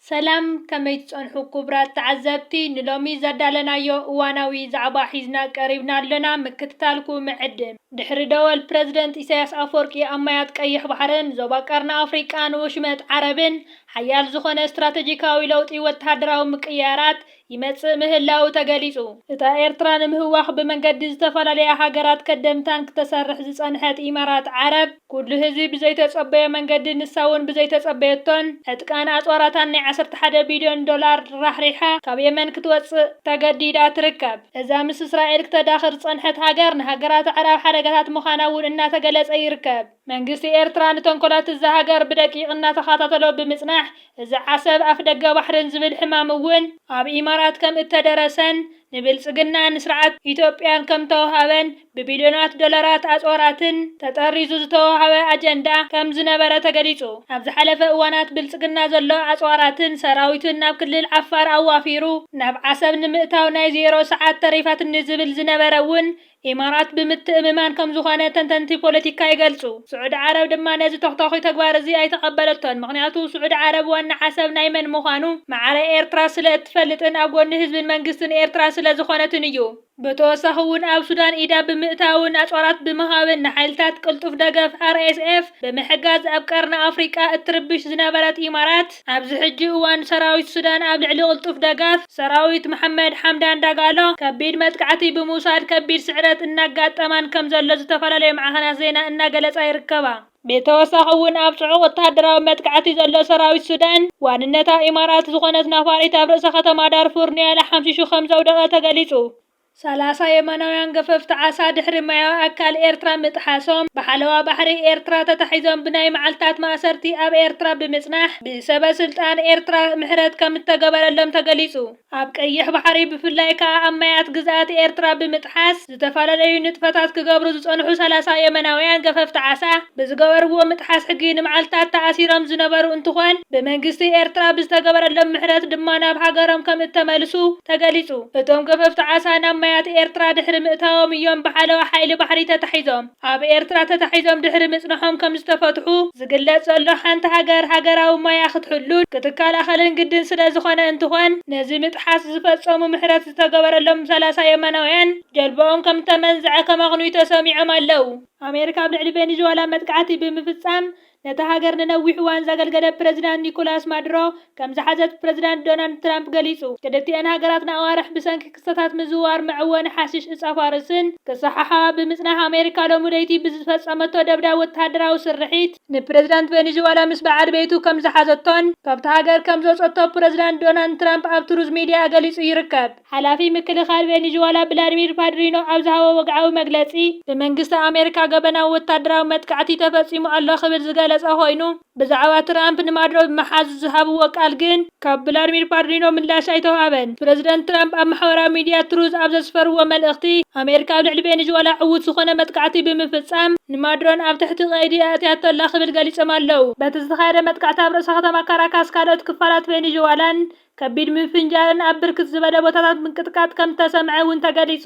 ሰላም ከመይ ትጸንሑ ኩቡራት ተዓዘብቲ ንሎሚ ዘዳለናዮ እዋናዊ ዛዕባ ሒዝና ቀሪብና ኣሎና ምክትታልኩ ምዕድም። ድሕሪ ደወል ፕረዚደንት ኢሳያስ ኣፍወርቂ ኣብ ማያት ቀይሕ ባሕርን ዞባ ቀርኒ ኣፍሪቃን ወሽመጥ ዓረብን ሓያል ዝኾነ ስትራተጂካዊ ለውጢ ወተሃደራዊ ምቅይያራት ይመጽእ ምህላዉ ተገሊጹ። እታ ኤርትራ ንምህዋኽ ብመንገዲ ዝተፈላለያ ሃገራት ከደም ታንክ ተሰርሕ ዝጸንሐት ኢማራት ዓረብ፣ ኩሉ ህዝቢ ብዘይተጸበዮ መንገዲ ንሳ'ውን ብዘይተጸበየቶን ዕጥቃን ኣጽዋራታን ናይ ዓሰርተ ሓደ ቢልዮን ዶላር ራሕሪሓ ካብ የመን ክትወጽእ ተገዲዳ ትርከብ። እዛ ምስ እስራኤል ክተዳኽር ዝጸንሐት ሃገር ንሃገራት ኣዕራብ ሓደጋታት ምዃና'ውን እናተገለጸ ይርከብ። መንግስቲ ኤርትራ ንተንኮላት እዛ ሃገር ብደቂቕ እናተኻታተሎ ብምጽናሕ እዚ ዓሰብ ኣፍደገ ባሕርን ዝብል ሕማም እውን ኣብ ኢማራት ከም እተደረሰን ንብልጽግና ን ስርዓት ኢትዮጵያን ከም ተወሃበን ብቢልዮናት ዶላራት ኣጽዋራትን ተጠሪዙ ዝተወሃበ ኣጀንዳ ከም ዝነበረ ተገሊጹ። ኣብ ዝሓለፈ እዋናት ብልጽግና ዘሎ ኣጽዋራትን ሰራዊቱን ናብ ክልል ዓፋር ኣዋፊሩ ናብ ዓሰብ ንምእታው ናይ ዜሮ ሰዓት ተሪፋትኒ ዝብል ዝነበረ እውን ኢማራት ብምትእምማን ከም ዝኾነ ተንተንቲ ፖለቲካ ይገልጹ። ስዑዲ ዓረብ ድማ ነዚ ተኽታዂ ተግባር እዚ ኣይተቐበለቶን። ምኽንያቱ ስዑዲ ዓረብ ዋና ዓሰብ ናይ መን ምዃኑ ማዕረ ኤርትራ ስለ እትፈልጥን ኣብ ጎኒ ህዝብን መንግስትን ኤርትራ ስለ ዝኾነትን እዩ። ብተወሳኺ እውን ኣብ ሱዳን ኢዳ ብምእታውን ኣጽዋራት ብምሃብን ንሓይልታት ቅልጡፍ ደገፍ፣ RSF፣ ብምሕጋዝ ኣብ ቀርኒ ኣፍሪቃ እትርብሽ ዝነበረት ኢማራት፣ ኣብዚ ሕጂ እዋን ሰራዊት ሱዳን ኣብ ልዕሊ ቅልጡፍ ደጋፍ ሰራዊት መሓመድ ሓምዳን ዳጋሎ ከቢድ መጥቃዕቲ ብምውሳድ ከቢድ ስዕረት እናጋጠማን ከምዘሎ ዝተፈላለዩ ማዕኸናት ዜና እናገለፃ ይርከባ። ብተወሳኺ እውን ኣብ ፅዑቕ ወታደራዊ መጥቃዕቲ ዘሎ ሰራዊት ሱዳን ዋንነታ ኢማራት ዝኾነት ናፋሪት ኣብ ርእሰ ከተማ ዳርፉር ኒያላ ሓምሺሹ ከምዘውደቐ ተገሊፁ። ሰላሳ የመናውያን ገፈፍቲ ዓሳ ድሕሪ ማያዊ ኣካል ኤርትራ ምጥሓሶም ብሓለዋ ባሕሪ ኤርትራ ተታሒዞም ብናይ መዓልታት ማእሰርቲ ኣብ ኤርትራ ብምጽናሕ ብሰበ ስልጣን ኤርትራ ምሕረት ከምእተገበረሎም ተገሊጹ። ኣብ ቀይሕ ባሕሪ ብፍላይ ከኣ ኣብ ማያት ግዝኣት ኤርትራ ብምጥሓስ ዝተፈላለዩ ንጥፈታት ክገብሩ ዝጸንሑ ሰላሳ የመናውያን ገፈፍቲ ዓሳ ብዝገበርዎ ምጥሓስ ሕጊ ንመዓልታት ተኣሲሮም ዝነበሩ እንትኾን ብመንግስቲ ኤርትራ ብዝተገበረሎም ምሕረት ድማ ናብ ሃገሮም ከምእተመልሱ ተገሊጹ። እቶም ገፈፍቲ ዓሳ ናብ ማያት ኤርትራ ድሕሪ ምእታዎም እዮም ብሓለዋ ሓይሊ ባሕሪ ተታሒዞም ኣብ ኤርትራ ተታሒዞም ድሕሪ ምጽንሖም ከምዝተፈትሑ ዝግለጽ ዘሎ። ሓንቲ ሃገር ሃገራዊ ማያ ክትሕሉን ክትከላኸልን ግድን ስለዝኾነ እንትኾን ነዚ ምጥሓስ ዝፈጸሙ ምሕረት ዝተገበረሎም ሰላሳ የመናውያን ጀልባኦም ከምተመንዝዐ ከማኽኑዩ ተሰሚዖም ኣለው። ኣሜሪካ ኣብ ልዕሊ ቬኒዝዋላ መጥቃዕቲ ብምፍጻም ነታ ሃገር ንነዊሕ እዋን ዘገልገለ ፕረዚዳንት ኒኮላስ ማዱሮ ከም ዝሓዘት ፕረዚዳንት ዶናልድ ትራምፕ ገሊጹ። ክልቲኤን ሃገራት ንኣዋርሕ ብሰንኪ ክስተታት ምዝውዋር መዐወኒ ሓሽሽ እጻፋርስን ክሰሓሓባ ብምጽናሕ፣ ኣሜሪካ ሎሚ ለይቲ ብዝፈጸመቶ ደብዳብ ወተሃደራዊ ስርሒት፣ ንፕረዚዳንት ቬኒዝዋላ ምስ በዓል ቤቱ ከም ዝሓዘቶን ካብታ ሃገር ከም ዘውጸቶ ፕረዚዳንት ዶናልድ ትራምፕ ኣብ ትሩዝ ሚድያ ገሊጹ ይርከብ። ሓላፊ ምክልኻል ቬኒዝወላ ብላድሚር ፓድሪኖ ኣብ ዝሃቦ ወግዓዊ መግለጺ፣ ብመንግስቲ ኣሜሪካ ገበናዊ ወታደራዊ መጥቃዕቲ ተፈጺሙ ኣሎ ክብል ዝገለጸ ኮይኑ፣ ብዛዕባ ትራምፕ ንማዱሮ ብምሓዝ ዝሃብዎ ቃል ግን ካብ ብላድሚር ፓድሪኖ ምላሽ ኣይተውሃበን። ፕረዚደንት ትራምፕ ኣብ ማሕበራዊ ሚድያ ትሩዝ ኣብ ዘስፈርዎ መልእኽቲ፣ ኣሜሪካ ኣብ ልዕሊ ቬኒዝወላ ዕዉት ዝኾነ መጥቃዕቲ ብምፍጻም ንማዱሮን ኣብ ትሕቲ ቀይዲ ኣእትያቶ ኣላ ክብል ገሊጾም ኣለው። በቲ ዝተኻየደ መጥቃዕቲ ኣብ ርእሰ ከተማ ካራካስ ካልኦት ክፋላት ቬኒዝወላን ከቢድ ምፍንጃርን ኣብ ብርክት ዝበለ ቦታታት ምንቅጥቃጥ ከምዝተሰምዐ እውን ተገሊፁ።